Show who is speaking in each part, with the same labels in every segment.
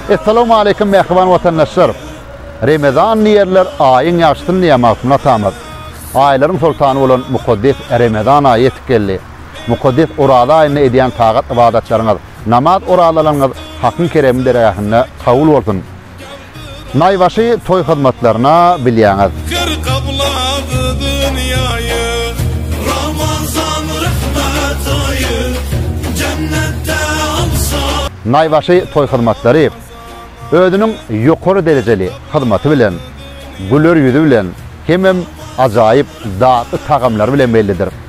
Speaker 1: Essalamu aleýkum mähriban watandaşlar! Remezan diýerler, aýyň ýagşysyn diýýär Magtymguly atamyz. Aýlaryň soltany bolan mukaddes Remezan aýy ýetip geldi. Mukaddes Oraza aýynda edýän tagat-ybadatlaryňyz, namaz-orazalaryňyz Hakyň keremli dergähinde kabul bolsun! Naýbaşy toý hyzmatlaryna bilýäňiz. Her gaplady dünýäýi. Ramazan rehmet aýy. Jennetde alsa. Naýbaşy toý hyzmatlary özüniň ýokary derejeli hyzmaty bilen, güler ýüzi bilen hemem ajaýyp datly tagamlary bilen bellidir.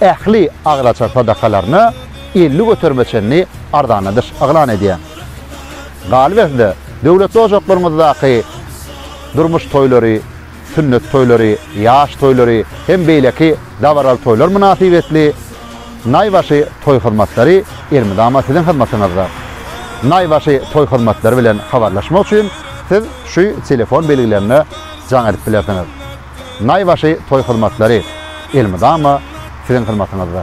Speaker 1: ähli agylaçar sadakalaryny elli göterime çenli arzanladyş yglan edýän. Galyberse-de, döwletli ojaklaryňyzdaky durmuş toýlary, sünnet toýlary, ýaş toýlary hem beýleki dabaraly toýlar mynasybetli naýbaşy toý hyzmatlary elmydama siziň hyzmatyňyzda. Naýbaşy toý hyzmatlary bilen habarlaşmak üçin siz şu telefon belgilerine jaň edip bilersiňiz. Naýbaşy toý hyzmatlary elmydama siziň hyzmatyňyzda.